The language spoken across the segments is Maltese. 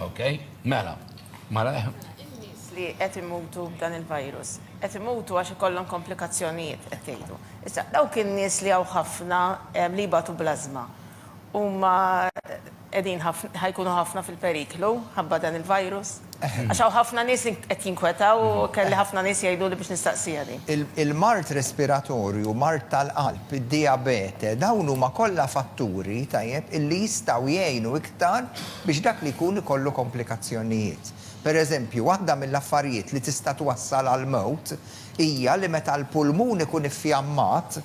Ok, mela, mela. In-nies li qed imutu b'dan il-virus, qed imutu għax ikollhom komplikazzjonijiet qed tgħidu. Issa dawk in-nies li hawn ħafna li jbatu bl-ażma huma qegħdin ħajkunu ħafna fil-periklu ħabba dan il-virus? Għax hawn ħafna nies qed jinkwetaw u kelli ħafna nies jgħiduli biex nistaqsija din. Il-mard respiratorju, mard tal-qalb, id-dijabete, dawn huma kollha fatturi, tajjeb, illi jistgħu jgħinu aktar biex dak li jkun ikollu komplikazzjonijiet. Pereżempju, waħda mill-affarijiet li tista' twassal għall-mewt hija li meta l-pulmun ikun iffjammat,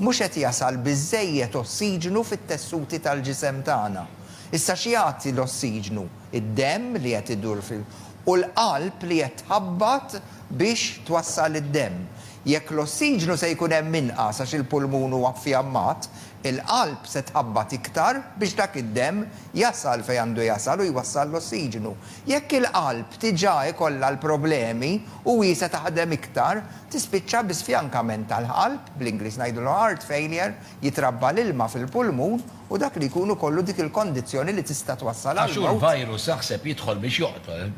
mhux qed jasal biżżejjed ossiġnu fit-tessuti tal-ġisem tagħna. Issa x'jagħti l-ossiġnu? Id-demm li qed idur fil u l-qalb li qed tħabbat biex twassal id-demm. Jekk l-ossiġnu se jkun hemm inqas għax il-pulmun huwa ffjammat, Il-qalb se tħabbat iktar biex dak id-demm jasal fejn għandu jasal u jwassal l-ossiġnu. Jekk il-qalb diġà ikollha l-problemi u hi se taħdem iktar, tispiċċa bi sfjankament tal-qalb, bl-Ingliż ngħidulu heart failure, jitrabba l-ilma fil-pulmun u dak li jkun ikollu dik il-kondizzjoni li tista' twassal għall-mewt. Għax hu l-virus aħseb jidħol biex joqtol.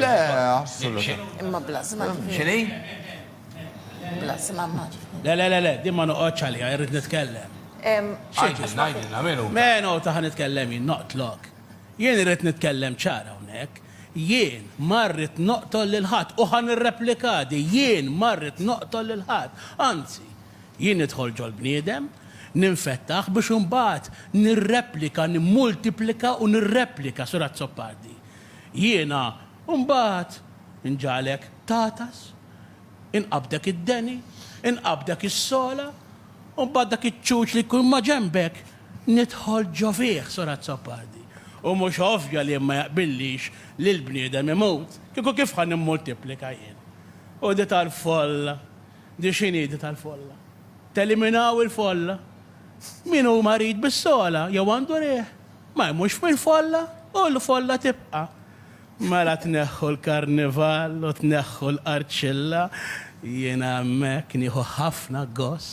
Le, assolutament. Imma bla żmajjien. X'inhi? Blas, mamma. Le, le, le, le, din ma noqgħodx għaliha, irrid nitkellem. X'inti ngħidilna min hu? Menu ta' ħa nitkellem jien noqtlok. Jien irrid nitkellem ċar hawnhekk. Jien ma rrid noqtol lil ħadd u ħa nirreplika di, jien ma rrid noqtol lil ħadd. Anzi, jien nidħol ġol-bniedem, ninfettaħ biex imbagħad nirreplika, nimmultiplika u nirreplika, Sur Azzopardi. Jiena mbagħad nġagħlek tagħtas Inqabdek id-deni, inqabdek is-sola, u mbagħad dak iċ-ċuċ li jkun maġenbek nidħol ġo fih, Sur Azzopardi. U mhux ovvja li ma jaqbillix li l-bniedem imut, kieku kif ħa nimmultiplika jien? U di tal-folla, di x'inhi di tal-folla? Teliminaw il-folla? Min hu marid bis-sola jew għandu riħ, ma jmutx mill-folla u l-folla tibqa'. Mela tneħħu l-karnival u tneħħu l-qarċilla, jiena hemmhekk nieħu ħafna gost.